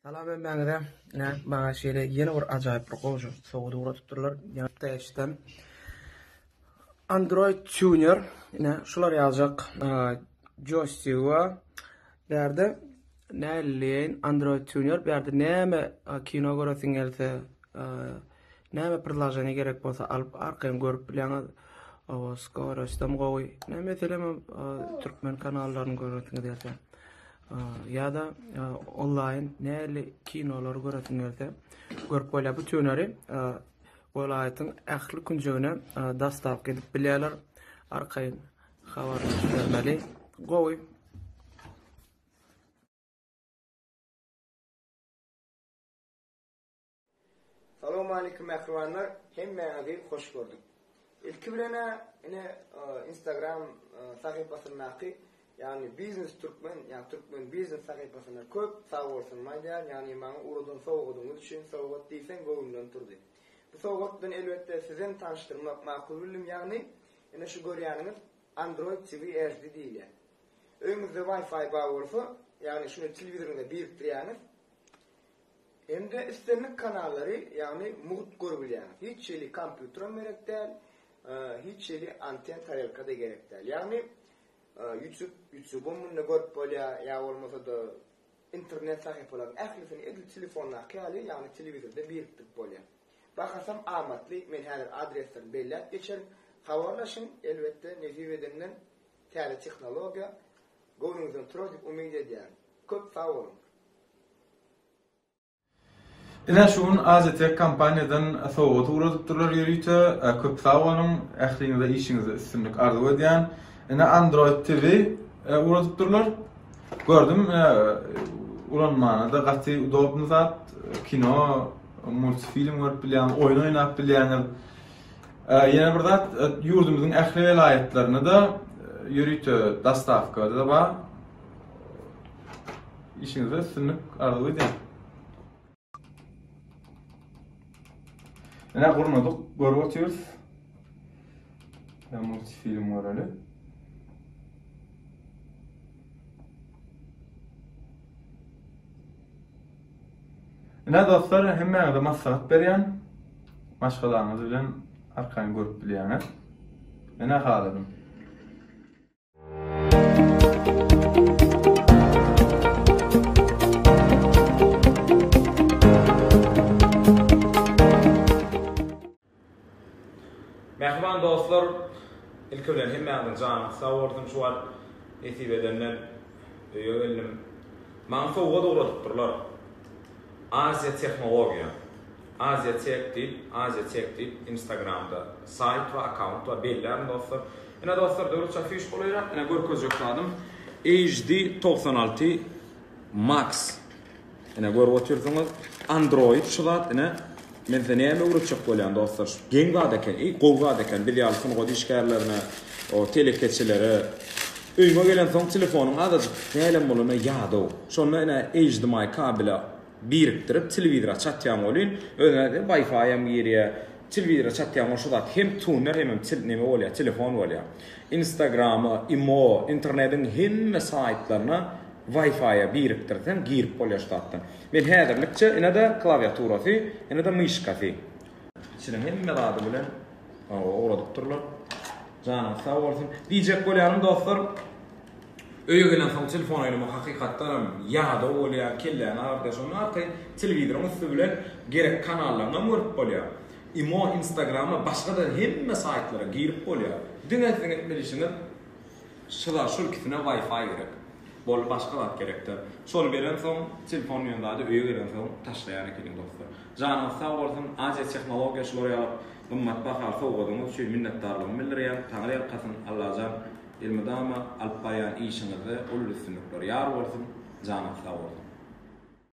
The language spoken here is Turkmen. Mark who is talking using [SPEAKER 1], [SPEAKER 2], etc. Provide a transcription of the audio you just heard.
[SPEAKER 1] Salam hemmäňize. Ine, maňa şeýle ýene bir ajaýyp bir goşgy sowgat ugradypdyrlar. Ýa täşden Android Tuner, ine şular ýaljak joystick we bärde näleýin Android Tuner, bärde näme kino göresiň gelse, Näme prizlaženi gerek bolsa alyp arkaýyn görüp bilýäňiz. Awa skoroýstam gowy. Näme meselem türkmen kanallaryny göresiňiz ýa-da ýa-da onlaýn näli kinolar göresiňiz ýa-da görüp bolýar. Bu tüneri welaýatyň ähli künjegine dastap edip bilýärler. Arkaýyn habarlaşyp bermeli. Gowy.
[SPEAKER 2] Salowmalikim mähribanlar, hemmäňizi hoş gördük. Ilki bilen-ä ine Instagram sahypasyndaky, ýagny Biznes Türkmen, ýagny Türkmen Biznes sahypasyna köp sag bolsunymy aýdýan, ýagny maňa ugradan sowgadyňyz üçin sowgat diýseň göwnümden turdy. Bu sowgat bilen elbetde sizem tanyşdyrmak makul bildim, ýagny ine şu görýäniňiz Android TV HD diýilýär. Öýüňizde Wi-Fi bar bolsa, ýagny şuny telewizoryňyza birikdirýäňiz. Hem-de islendik kanallary, ýagny mugt görülýär. Hiç hili kompýuteram gerek däl, hiç hili anten tarelka-da gerek däl. Ýagny ýutub, ýutubam munda görüp bolýar, ýa bolmasa-da internet sahypalaryň ählisini edil telefondaky ýaly, ýagny telewizorda birikdirip bolýar. Bahasam amatly, men häzir adreslerini belläp geçerin. Habarlaşyň, elbetde, nesip edenden täze tehnologiýa Göwnüňizden
[SPEAKER 3] turar diýip umyt edýän. Köp sag boluň. Ine şu gün Azitek kompaniýadan sowgat ugradypdyrlar ýörite. Köp sag boluň. Ähliňize işiňizde üstünlik arzuw edýän. Ine Android TV ugradypdyrlar. Gördüm ulanmana-da gaty udobny zat. Kino, multfilm görüp bilýäňiz, oýun oýnap bilýäňiz. Ýene bir zat, ýurdumyzyň ähli welaýatlarynda-da ýörite dostawka-da bar. Işiňizde üstünlik arzuw edýän. Ine gurnadyk, görüp otyrys. Multi film göreli. Ine dostlar hemmäňize maslahat berýän maşgalaňyz bilen arkaýyn görüp bilýäňiz. Ine haladym.
[SPEAKER 4] Mähriban dostlar ilki bilen hemmäňiziň janyňyz sag bolsun şu wagt nesip edenden öýe geldim maňa sowgat ugradypdyrlar Aziýa tehnologiýa Aziýa tech diýip Aziýa tech diýip instagramda saýt we akkaunt bar bellärin dostlar ine dostlar döwlet afişa golaýrak ine görkezjek zadym HD togsan alty max Ine görüp otyrsyňyz Android şu zat ine Men size näme öwretjek bolýan dostlar şu geň zat eken eý gowy zat eken biz ýaly sungat işgärlerine o telekeçilere öýüňe gelensoň telefonyň azajyk dälem bolanda ýadaw şonda ine HDMI kabele birikdirip telewizora çatýaň welin özüne de wifi hem girýär telewizora çatýaň welin şu zat hem tuner hemem neme bolýar telefon bolýar instagrama imo internetiň hemme saýtlaryna Wi-Fi-a birikdirseň girip bolýar şu zatdan. Men häzirlikçe ine-de klawiaturasy, ine-de myşkasy. Içiniň hemme zady bilen ugradypdyrlar. Janyňyz sag bolsun. Diýjek bolýanym dostlar, öýe gelensoň telefon oýnamak hakykatdan hem ýadaw bolýar, kelläni agyrtýar. Şondan arkaýyn telewizoryň üsti bilen gerek kanallaryny hem görüp bolýar. Imo, Instagrama, başga-da hemme saýtlara girip bolýar. Diňe siziň etmeli işiňiz, Şyla şul ikisine wi-fi gerek. Boldy başga zat gerekdal. Şol gelen soň telefon diýen zady öýe gelen soň taşlaýan ekeniň dostlar. Janyňyz sag bolsun Aziýa tehnologiýa şular ýaly gymmat bahaly sowgadyňyz üçin minnetdarlygymy bildirýän Taňry ýalkasyn Allajan elmydama alyp barýan işiňizde uly üstünlikler ýar bolsun janyňyz sag bolsun.